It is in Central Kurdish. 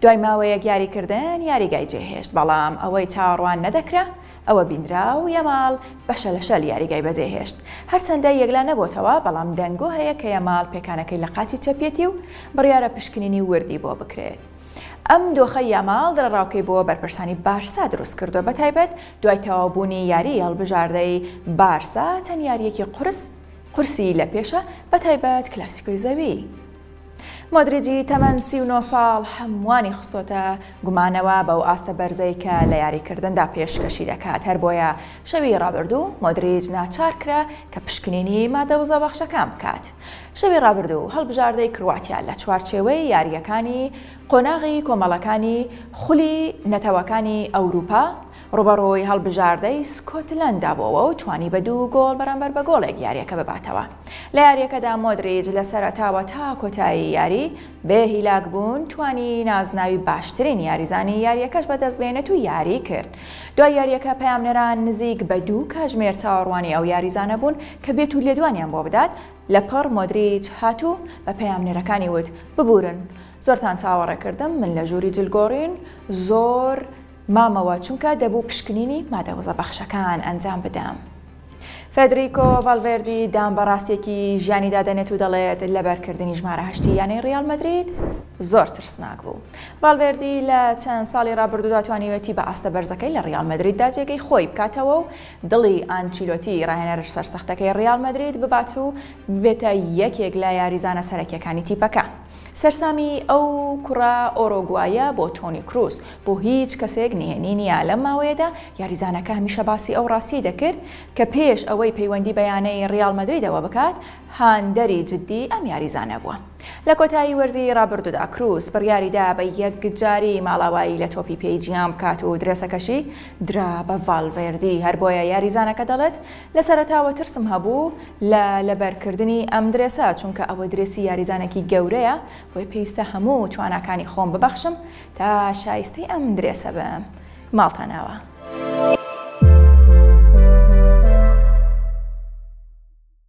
دوای ماوەیەک یاریکردن یاریگای جێهێشت، بەڵام ئەوەی چاوەڕوان نەدەکرا ئەوە بینرا و یەماڵ بە شەلەشەل یاریگای بەجێهێشت، هەرچەندە یەکلا نەبۆتەوە، بەڵام دەنگۆ هەیە کە یەماڵ پێکانەکەی لە قاچی چەپیەتی و بڕیارە پشکنینی وردی بۆ بکرێت. ئەم دۆخەی یاماڵ دڵەڕاوکێی بۆ بەرپرسانی بارسا دروستکردووە، بەتایبەت دوای تەواوبوونی یاریی هەڵبژاردەی بارسا چەند یارییەکی قورس قورسی لەپێشە، بەتایبەت کلاسیکۆی زەوی. مۆدریجی تەمەن سی و نۆ ساڵ هەمووانی خستۆتە گومانەوە بەو ئاستە بەرزەی کە لە یاریکردندا پێشکەشی دەکات، هەر بۆیە شەوی رابردوو مۆدریج ناچار کرا کە پشکنینی مادە وزەبەخشەکان بکات. شەوی رابردوو هەڵبژاردەی کرواتیا لە چوارچێوەی یارییەکانی قۆناغی کۆمەڵەکانی خولی نەتەوەکانی ئەوروپا رووبەڕووی هەڵبژاردەی سکۆتلەندا بۆوە و توانی بە دوو گۆڵ بەرامبەر بە گۆڵێک یارییەکە بباتەوە. لە یارییەکەدا مۆدریچ لە سەرەتاوە تا کۆتایی یاری بێ هیلاکبوون توانی نازناوی باشترین یاریزانی یارییەکەش بەدەستبێنێت و یاری کرد. دوای یارییەکە پەیامنێران نزیک بە دوو کاژمێر چاوەڕوانی ئەو یاریزانە بوون کە بێت و لێدوانیان بۆ بدات، لەپڕ مۆدریچ هات و بە پەیامنێرەکانی وت، ببوورن زۆرتان چاوەڕێ کردم، من لە ژووری جلگۆڕین زۆر. مامەوە چونکە دەبوو پشکنینی مادە وزە بەخشەکان ئەنجام بدەم. فێدریکۆ ڤالڤێردی دان بە ڕاستیەکی ژیانیدا دەنێت و دەڵێت لەبەرکردنی ژمارە هەشتی یانەی ڕیاڵ مەدرید زۆر ترسناک بوو. ڤالڤێردی لە چەند ساڵی ڕابردوودا توانیوێتی بە ئاستە بەرزەکەی لە ڕیاڵ مەدریددا جێگەی خۆی بکاتەوە و دڵی ئانچیلۆتی ڕاهێنەر سەرسەختەکەی ڕیاڵ مەدرید ببات و ببێتە یەکێک لە یاریزانە سەرەکییەکانی تیپەکە. سەرسامی ئەو کوڕە ئۆرۆگوایە بۆ تۆنی کروس بۆ هیچ کەسێک نهێنی نییە، لەم ماوەیەدا یاریزانەکە هەمیشە باسی ئەو ڕاستییەی دەکرد کە پێش ئەوەی پەیوەندی بە یانەی ڕیاڵ مەدریدەوە بکات، هاندەری جددی ئەم یاریزانە بووە. لە کۆتایی وەرزی ڕابردوودا کروس بڕیاریدا بە یەکجاری ماڵاوایی لە تۆپی پێی جیهان بکات و درێسەکەشی درا بە ڤالڤێردی، هەر بۆیە یاریزانەکە دەڵێت، لە سەرەتاوە ترسم هەبوو لە لەبەرکردنی ئەم درێسە، چونکە ئەوە درێسی یاریزانێکی گەورەیە، بۆیە پێویستە هەموو تواناکانی خۆم ببەخشم تا شایستەی ئەم درێسە بم. ماڵتاناوە.